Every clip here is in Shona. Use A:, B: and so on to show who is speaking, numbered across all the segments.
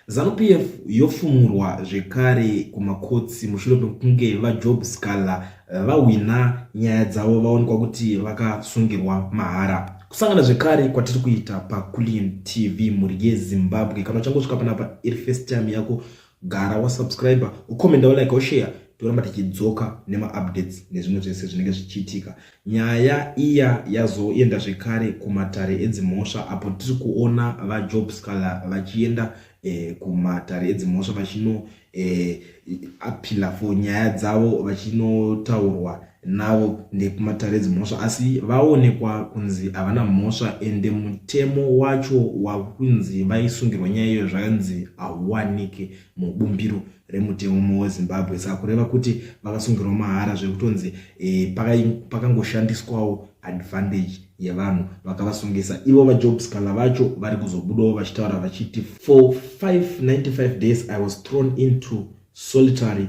A: ZanuPF yofumurwa zvekare kumakotsi mushure mekunge VaJob Sikhala eh, vahwina nyaya dzavo vaonekwa kuti vakasungirwa mahara. Kusangana zvekare kwatiri kuita paCullion TV mhuri yeZimbabwe. Kana uchangosvika panapa iri first time yako, gara wasubscriber, ucomenda, ulike, ushare toramba tichidzoka nemaupdates nezvimwe zvese zvinenge zvichiitika. Nyaya iya yazoenda zvekare kumatare edzimhosva apo tiri kuona vaJob Scala vachienda eh, kumatare edzimhosva vachino eh, apila for nyaya dzavo vachinotaurwa navo ndekumatare edzimhosva asi vaonekwa kunzi havana mhosva ende mutemo wacho wakunzi vaisungirwa nyaya iyoyo zvakanzi hauwanike mubumbiro remutemo wezimbabwe saka kureva kuti vakasungirwa mahara zvekutonzi e, pakangoshandiswawo paka advantage yevanhu vakavasungisa ivo vajob scala vacho vari kuzobudawo vachitaura vachiti for 595 days i was thrown into solitary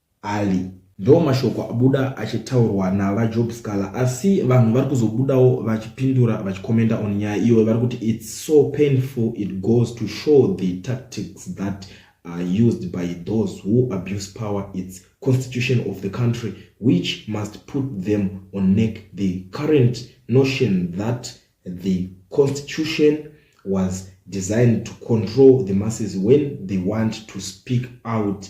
A: Ali. Ndo mashoko abuda achitaurwa nava Job Scala asi vanhu vari kuzobudawo vachipindura vachikomenda on nyaya iyoyo vari kuti it's so painful it goes to show the tactics that are used by those who abuse power its constitution of the country which must put them on neck the current notion that the constitution was designed to control the masses when they want to speak out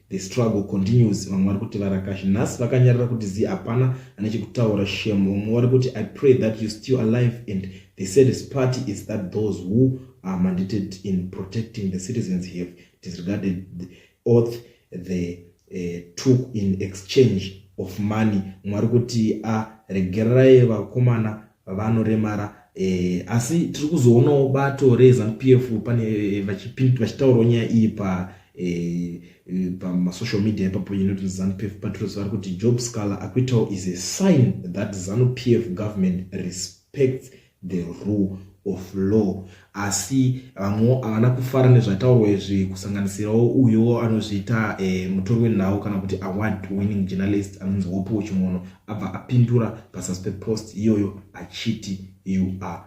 A: The struggle continues vamwe vari kuti varakashi nhasi vakanyarara kuti zi hapana ane chekutaura shem vamwe vari kuti i pray that you still alive and the saddest party is that those who are mandated in protecting the citizens have disregarded the oath the uh, took in exchange of money mwari kuti aregererai ah, vakomana vanoremara eh, asi tiri kuzoonawo bato reZanu PF pane eh, vachitaurawo nyaya iyi pa eh, eh, pamasocial media ipapo inoti zanu p f patrus vari kuti job scaler akuitawo is a sign that zanu p f government respects the rule of law asi vamwewo havana kufara nezvataurwa izvi kusanganisirawo uyo anozviita e, mutori wenhau kana kuti award winning journalist anonzi wopuwo chimono abva apindura pazasi pepost iyoyo achiti you are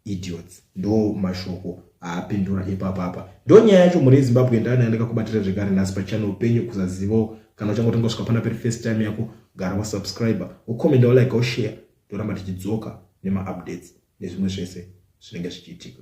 A: idiots ndo mashoko aapindura ipapapa ndo nyaya yacho mhuri yezimbabwe ndani yandaka kubatira zvekare nhasi pachannel penyu kuzazivawo kana uchangotanga kusvika pana peri first time yako gara wasubscriber wocommenda wolaika woshare toramba tichidzoka nemaupdates nezvimwe zvese zvinenge zvichiitika.